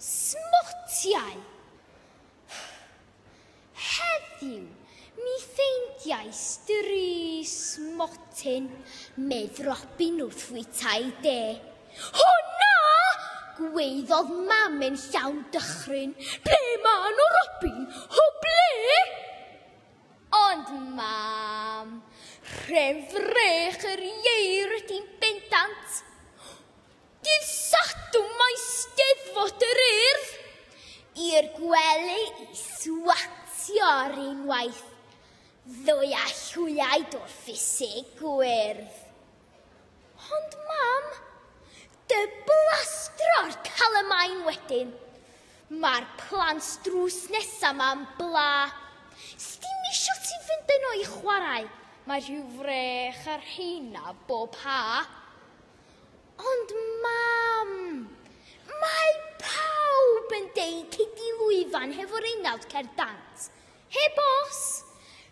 Smotiau! Heddiw, mi ffeindiais dri smotyn, medd Robin wrth fwytau de. Hwna! gweiddodd mam yn llawn dychryn. Ble ma nhw, Robin? O ble? Ond mam, rhef frech yr ieir di bendant. Dydd Sadwrn mae Steddfod yr Urdd i'r gwely i swatio'r unwaith, ddoe â llwyaid o'r ffisig gwyrdd. Ond mam, dy blastro'r calamain wedyn. Mae'r plant drws nesa ma'n bla. Sdim isio ti fynd yno i chwarae, mae rhyw frech ar rheina bob ha. Ond mam, mae pawb yn deud cei di lwyfan hefo'r unawd cer dant. Heb os.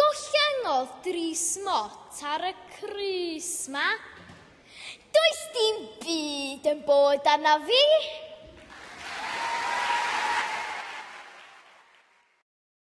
Gollengodd dri smot ar y crys 'ma. Does dim byd yn bod arna fi.